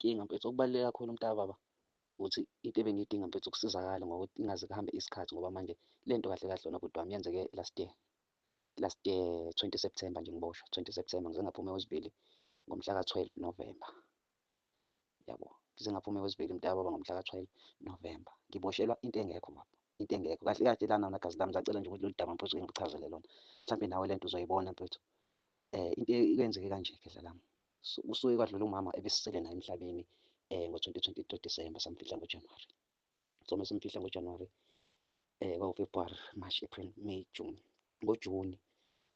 Inkinga mfethu okubaluleke kakhulu mntakababa ukuthi into ebengiyidinga mfethu ukusizakala ngokuthi ingaze kuhambe isikhathi ngoba manje le nto kahle kahle lona bhuti wami yenzeke last year last year 20 September nje ngiboshwa 20 September ngize ngaphuma wesibili ngomhla ka 12 November yabo ngize ngaphuma wesibili mntakababa ngomhla ka 12 November ngiboshelwa into engekho baba into engekho kahle kahle lana wona gazi lami zacela nje ukuthi lolu daba mfethu ngikuchazele lona mhlawumbe nawe le nto uzoyibona mfethu um into kwenzeke kanje khehla lami Kusuke kwadlula umama ebesisele naye emhlabeni um ngo-2023 December samfihla ngoJanuwari. So uma simfihla ngoJanuwari um kwawu-February, March, April, May, June. NgoJuni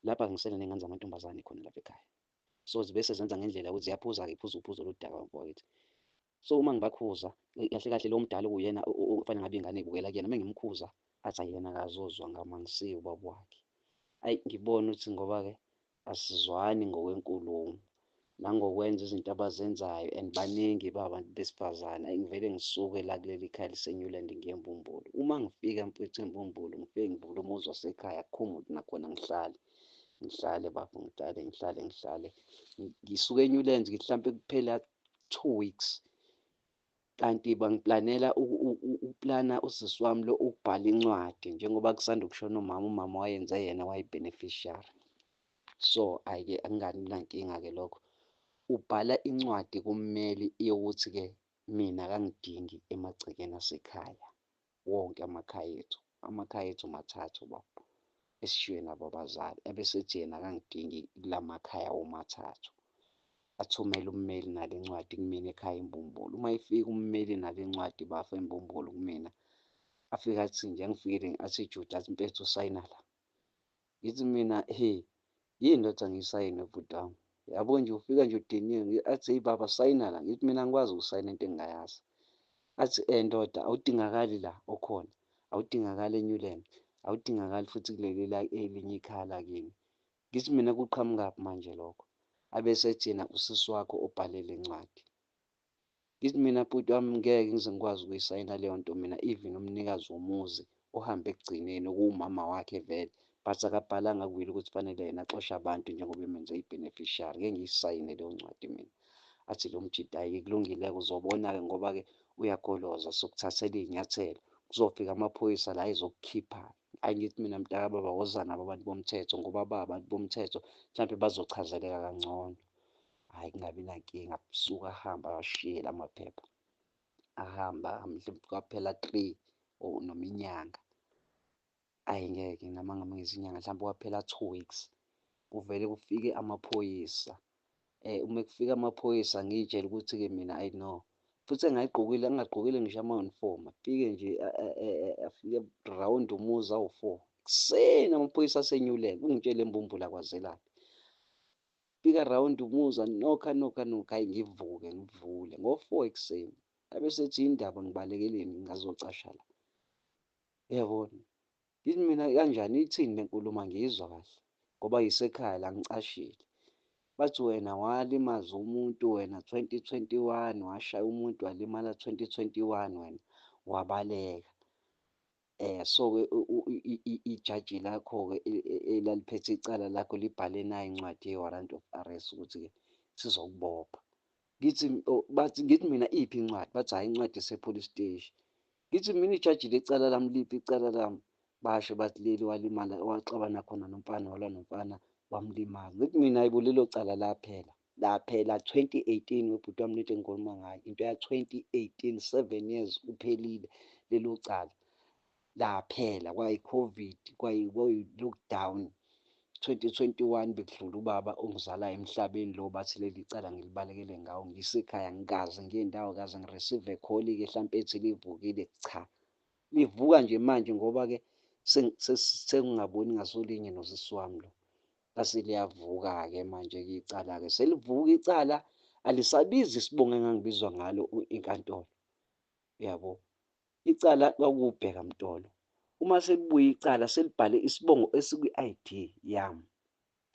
lapha ngisele ney'ngane zamantombazane khona lapha ekhaya. So zibe sezenza ngendlela yokuthi ziyaphuza-ke, iphuza uphuzo oludaka bafo bakithi. So uma ngibakhuza kahle kahle lo mdala okuyena okufanele ngabe ingane ibukela kuyena uma ngimkhuza athi ayena akazozwa ngama ngisiye ubaba wakhe ayi ngibona ukuthi ngoba-ke asizwani ngokwenkulumo nangokwenza izinto abazenzayo and baningi babantu besifazane ayi ngivele ngisuke la kuleli khaya lisenyuland ngiye embumbulu uma ngifika mfethu embumbulu ngifike ngivule umuzi wasekhaya akukho muntu nakhona ngihlale ngihlale bafo ngihlale ngihlale ngihlale ngisuke enyuland ngihlampe kuphela two weeks kanti bangiplanela ukuplana usisi wami lo ukubhala incwadi njengoba kusanda ukushona umama umama wayenze yena wayi-beneficiary so ayike angani nankinga-ke lokho ubhala incwadi kummeli yokuthi-ke mina kangidingi emagcekeni asekhaya wonke amakhaya ethu amakhaya ethu mathathu baba esishiywe nabo abazali abesethi yena akangidingi kulamakhaya womathathu athumele ummeli nale ncwadi kumina ekhaya imbumbulu uma ifika ummeli nale ncwadi bafa imbumbulu kumina afike athi nje angifikile athi juda athi mpethu usayina la Ngithi mina he yini ndoda ngisayine bhuti wami yabo nje ufika nje udiniwe athi heyi baba sayina la ngithi mina ngikwazi ukusayina into engingayazi athi um eh, ndoda awudingakali la okhona awudingakali enyuland awudingakali futhi kuleli la elinye ikhaya lakini ngithi mina kuqhamukaphi manje lokho abese ethina usisi wakho obhalele incwadi Ngithi mina bhuti wami ngeke ngize ngikwazi ukuyisayina leyo nto mina even umnikazi womuzi ohambe ekugcineni okuwumama wakhe vele but akabhalanga kwili ukuthi fanele yena axoshe abantu njengoba emenze i-beneficiary ngeke ngiyisayine leyo ncwadi mina athi lo mjita ayi kulungile-ke uzobona-ke ngoba-ke uyagoloza sokuthathela iy'nyathelo kuzofika amaphoyisa la ezokukhipha ayi ngithi mina mntaka baba woza nabo abantu bomthetho ngoba ba abantu bomthetho mhlawumbe bazochazeleka kangcono hhayi kungabi nankinga suke ahambe awashiye la maphepha ahambe ahambe mhlawumbe kwaphela three or noma inyanga ayi ngeke noma ngabe ngezinyanga mhlawumbe kwaphela two weeks kuvele kufike amaphoyisa um uma kufika amaphoyisa ngiyitshela ukuthi-ke mina ayi no futhi engayigqokile angagqokile ngisho ama-uniform afike nje afike round umuzi awu-four ekuseni amaphoyisa asenyuleka ungitshele imbumbula kwazelaphi Fika around umuzwa nokha nokha nokha ayi ngivuke ngivule ngo-four ekuseni abe sethi indaba ngibalekeleni ngazocasha la uyabona ngithi mina kanjani ithini le nkulumo angiyizwa kahle ngoba yisekhaya la ngicashile bathi wena walimaza umuntu wena 2021 washaya umuntu walimala 2021 wena wabaleka Eh so ke ijaji lakho ke e, e, elaliphethe icala lakho libhale nayo incwadi ye warrant of arrest ukuthi ke sizokubopha. Ngithi oh, bathi ngithi mina iphi incwadi? Bathi hayi incwadi esepolice station. Ngithi mina ijaji lecala lami liphi icala lami? Basho bathi leli walimala waxabana khona nomfana walwa nomfana wamlimaza. Ngithi mina ayibo lelo cala laphela. Laphela 2018 webhuti wami lento engikhuluma ngayo into ya 2018 7 years uphelile lelo cala laphela kwayi covid kwayi kwayi lockdown 2021 bekudlula ubaba ongizala emhlabeni lo bathi leli cala ngilibalekele ngawo ngisekhaya ngikaze ngiye ndawo kaze ngireceive call ke mhlawumbe ethi livukile cha livuka nje manje ngoba ke sengingaboni ngasolinye nosisi wami lo lase liyavuka-ke manje-ke icala-ke selivuka icala alisabizi isibongo engangibizwa ngalo inkantolo uyabo icala kwakubheka mtolo uma selibuye icala selibhale isibongo esikwi-id yami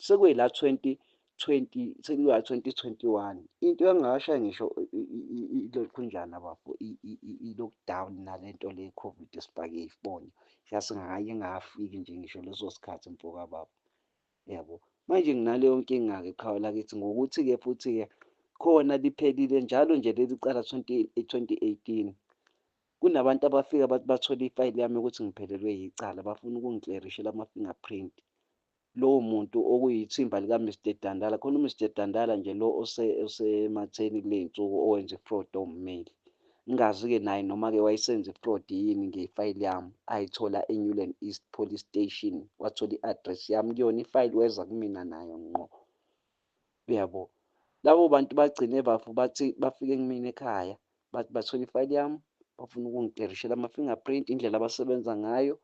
sekwela 20 20 sekuya 2021 into engakashayi ngisho ilokhunjana bafo i-lockdown nalento le covid sibhake ifoni yasingakaye ngafiki nje ngisho leso sikhathi mfoka baba Yabo. Manje nginaleyo nkinga-ke qhawe lakithi ngokuthi-ke futhi-ke khona liphelile njalo nje leli cala 2018 kunabantu abafika bathi bathole ifayili yami ukuthi ngiphelelwe yicala bafuna ukungiklerishela ama-fingerprint lowo muntu okuyithimba lika-mr dandala khona u-mr dandala nje lo osematheni kule nsuku owenza ifraud owummeli Ngingazi-ke naye noma-ke wayesenza i-fraud yini ngefayili yami, ayithola eNewland East Police Station, wathola i-address yami kuyona ifayili, weza kumina nayo ngqo. Uyabo? Labo bantu bagcine bafu bathi bafike kumina ekhaya, bathi bathola ifayili yami, bafuna ukungiterishela ama-fingerprint, indlela abasebenza ngayo,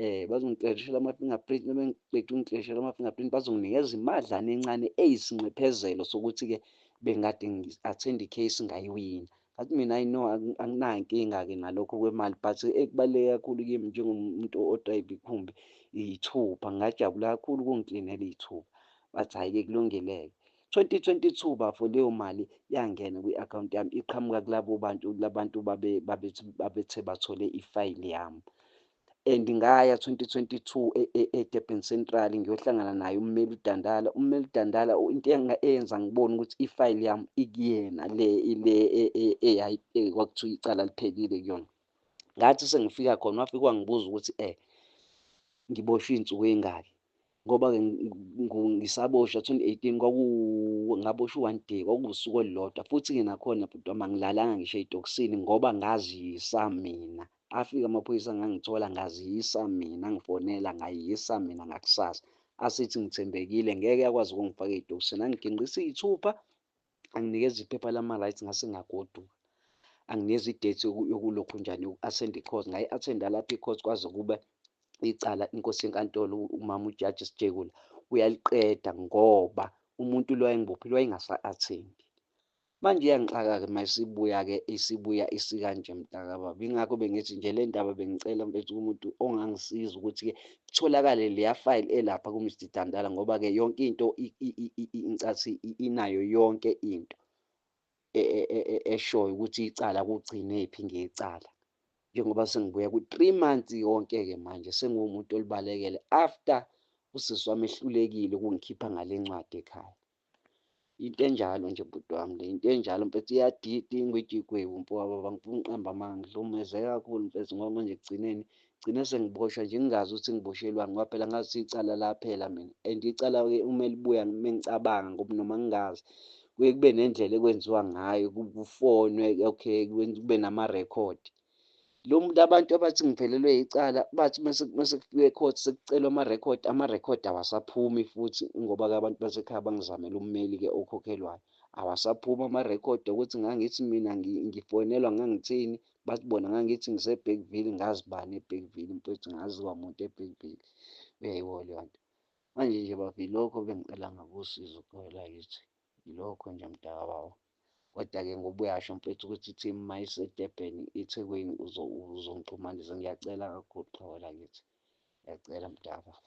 eh bazongicekishela ama-fingerprint uma ngiqeda ungicekishela ama-fingerprint bazonginikeza imadlana encane eyisinxephezelo sokuthi-ke bengikade ngi-attend i-case ngayiwina ngathi mina i know anginankinga-ke nalokho kwemali but ekubaluleke kakhulu kimi njengomuntu odrayiva ikhumbi iyithupha ngingajabula kakhulu ukungiklinela iyithupha bathi hhayi-ke kulungeleke 2022 bafo leyo mali yangena kwi-akhawunti yami iqhamuka kulabo bantu labantu babethe bathole ifayili yami and ngaya 2022 e, e, eDurban Central ngiyohlangana naye ummeli uDandala ummeli uDandala into eyenza ngibone ukuthi ifayili yami ikuyena le ile e, kwakuthiwa icala liphelile kuyona ngathi sengifika khona wafika wangibuza ukuthi eh ngiboshwe iy'nsuku ey'ngaki ngoba ngisaboshwa 2018 kwaku ngaboshwa one day kwakuwusuku olulodwa futhi ke nakhona bhuti wami angilalanga ngisho ey'tokisini ngoba ngaziyisa mina afika amaphoyisa ngangithola ngaziyisa mina ngifonela ngayisa mina ngakusasa asithi ngithembekile ngeke akwazi ukungifaka ey'tokisini angiginqisa iy'thupha anginikeza iphepha lama-rights ngase ngagoduka anginikeza idate yokulokhu njani yoku-athenda i-course ngayi-athenda lapho i-course kwaze kube icala inkosi yenkantolo umama ujaji sijekula uyaliqeda ngoba umuntu lo wayengibophile wayengasa-athendi manje iyangixaka-ke uma isibuya-ke isibuya isikanje mntakababa yingakho bengithi nje le ndaba bengicela mfethu kumuntu ongangisiza ukuthi-ke kutholakale leya file elapha ku Mr Dantala ngoba ke yonke into incathi inayo yonke into e, e, e, eshoyo ukuthi icala kugcine phi ngecala njengoba sengibuya ku 3 months yonke ke manje sengumuntu olibalekele after usisi wami ehlulekile ukungikhipha ngalencwadi ekhaya into enjalo nje bhuti wami le into enjalo mfethu iyadida ingwijigwebu mfowabo bangifuna uqamba amanga ngihlukumezeke kakhulu mfethu ngoba manje ekugcineni gcine sengiboshwa nje ngingazi ukuthi ngiboshelwani ngoba phela ngazi ukuthi icala laphela mina and icala-ke uma libuya uma ngicabanga ngoba noma ngingazi kuye kube nendlela ekwenziwa ngayo kufonwe okay kube namarekhodi lo muntu abantu abathi ngivelelwe yicala bathi mase kufike court sekucelwa ama record ama record awasaphumi futhi ngoba ke abantu basekhaya bangizamela ummeli ke okhokhelwayo awasaphuma ama record ukuthi ngangithi mina ngifonelwa ngangithini bathi bona ngangithi ngise Bergville ngazi bani e Bergville mfethu ngazi kwamuntu e Bergville uyayiwo leyo nto manje nje bavi lokho bengicela ngakusizo khona la yithi Yilokho nje mtakababa. Kodwa ke ngoba uyasho mfethu ukuthi team mayiseDurban eThekwini uzongixhumanisa ngiyacela kakhulu qhawe lakithi. Ngiyacela mtakababa.